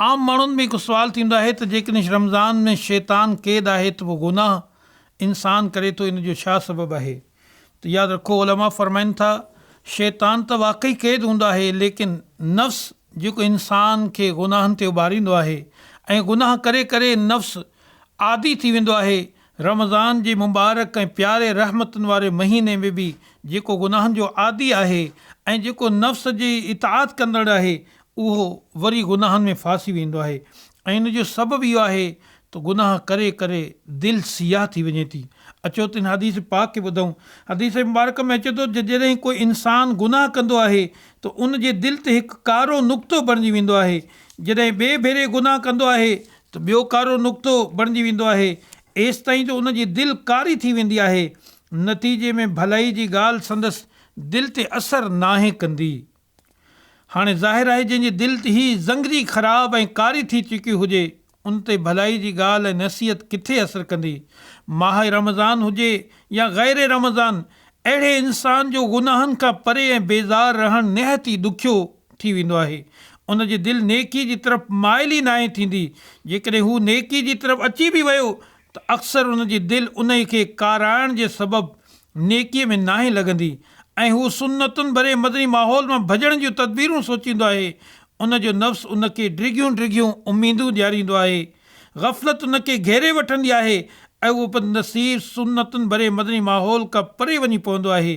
عام ماڻهن ۾ هڪ سوال ٿيندو آهي ته جيڪڏهن رمضان ۾ شيطان قيد آهي ته پوء گناهه انسان ڪري ٿو ان جو ڇا سبب آهي ته ياد رکو علماء فرمائن ٿا شيطان ته واقعي قيد هوندو آهي ليڪن نفس جيڪو انسان کي گناهن تي اڀاريندو آهي ۽ گناهه ڪري ڪري نفس عادي ٿي ويندو آهي رمضان جي مبارڪ ۽ پياري رحمتن واري مهيني ۾ به جيڪو گناهن جو عادي آهي ۽ جيڪو نفس جي اطاعت ڪندڙ آهي اهو وري گناهن ۾ ڦاسي ويندو آهي ۽ ان جو سبب اهو آهي ته گناهه ڪري ڪري دل سياهه ٿي وڃي ٿي. اچو ته هن حديث پاڪ کي ٻڌون. حديث مبارڪ ۾ اچي ٿو ته جڏهن ڪو انسان گناهه ڪندو آهي ته ان جي دل تي هڪ ڪارو نقطو بڻجي ويندو آهي. جڏهن ٻئي ڀيري گناهه ڪندو آهي ته ٻيو ڪارو نقطو بڻجي ويندو آهي. ايستائين جو ان جي دل ڪاري ٿي ويندي آهي. نتيجي ۾ ڀلائي جي ڳالهه سندس دل تي اثر ناهي ڪندي. هاڻي ظاهر آهي جنهن جي دل تي هي زنگري خراب ۽ ڪاري ٿي چڪي هجي ان تي ڀلائي جي ڳالهه ۽ نصيحت ڪٿي اثر ڪندي. ماهه رمضان هجي يا غير رمضان اهڙي انسان جو گناهن کان پري ۽ بيزار رهڻ نهايت ئي ڏکيو ٿي ويندو آهي. ان جي دل نيڪي جي طرف مائل ئي ناهي ٿيندي. جيڪڏهن هو نيڪي جي طرف اچي به ويو ته اڪثر ان جي دل انهي کي ڪارائڻ جي سبب نيڪيء ۾ ناهي لڳندي ۽ هو سنتن ڀرئي مدني ماحول مان ڀڄڻ جون تدبيرون سوچيندو آهي. ان جو نفس ان کي ڊگهيون ڊگهيون اميدون ڏياريندو آهي. غفلت ان کي گهيري وٺندي آهي ۽ اهو بدنصيب سنتن ڀرئي مدني ماحول کان پري وڃي پوندو آهي.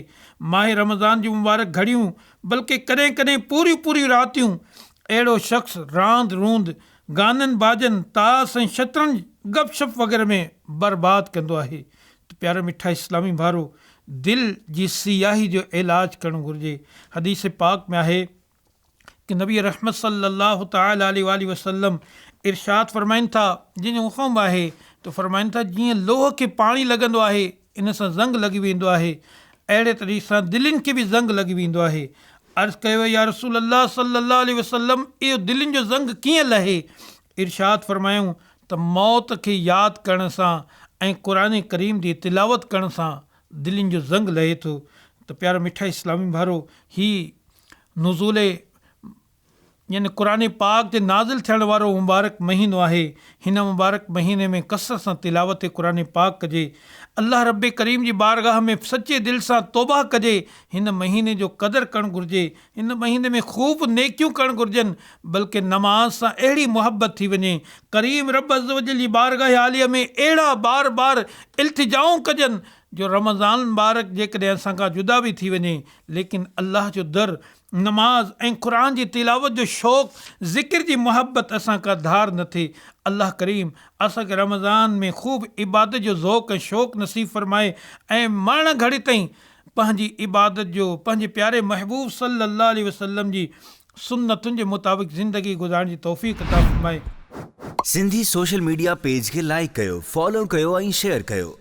ماهه رمضان جون مبارڪ گهڙيون بلڪه ڪڏهن ڪڏهن پوريون پوريون راتيون اهڙو شخص راند روند گانن باجن، تاس ۽ شطرنج، گپ شپ وغيره ۾ برباد ڪندو آهي ته پيارا مٺا اسلامي ڀائرو! دل جي سياهي جو علاج ڪرڻ گهرجي. حديث پاڪ ۾ آهي ته نبي رحمت صلّي اللّٰه تعالٰي عليه واٰله وسلّم ارشاد فرمائن ٿا، جن جو اهو قوم آهي ته فرمائن ٿا جيئن لوهه کي پاڻي لڳندو آهي ان سان زنگ لڳي ويندو آهي اهڙي طريق سان دلين کي به زنگ لڳي ويندو آهي عرض ڪيو يا رسول الله صلي الله عليه وسلم اهو دلين جو زنگ ڪيئن لهي ارشاد فرمايائون ته موت کي ياد ڪرڻ سان ۽ قرآن ڪريم جي تلاوت ڪرڻ سان دلين جو زنگ لهي ٿو ته پيارا مٺا اسلامي ڀائرو هي نزول يعني قرآن پاڪ جي نازل ٿيڻ وارو مبارڪ مهينو آهي، هن مبارڪ مهيني ۾ ڪثرت سان تلاوت قرآن پاڪ ڪجي، الله رب ڪريم جي بارگاهه ۾ سچي دل سان توبهه ڪجي، هن مهيني جو قدر ڪرڻ گهرجي، هن مهيني ۾ خوب نيڪيون ڪرڻ گهرجن، بلڪه نماز سان اهڙي محبت ٿي وڃي، ڪريم رب عزّوجلّ جي بارگاهه عاليه ۾ اهڙا بار بار التجائون ڪجن جو رمضان المبارڪ جيڪڏهن اسان کان جدا به ٿي وڃي ليڪن الله جو در نماز ۽ قرآن جي تلاوت جو شوق، ذڪر جي محبت اسان ڪا ڌار نه ٿئي. الله ڪريم اسان کي رمضان ۾ خوب عبادت جو ذوق ۽ شوق نصيب فرمائي ۽ مرڻ گهڙي تائين پنهنجي عبادت جو پنهنجي پياري محبوب صلي الله عليه وسلم جي سنتن جي مطابق زندگي گذارڻ جي توفيق عطا فرمائي. سنڌي سوشل ميڊيا پيج کي لائيڪ ڪيو، فالو ڪيو ۽ شيئر ڪيو.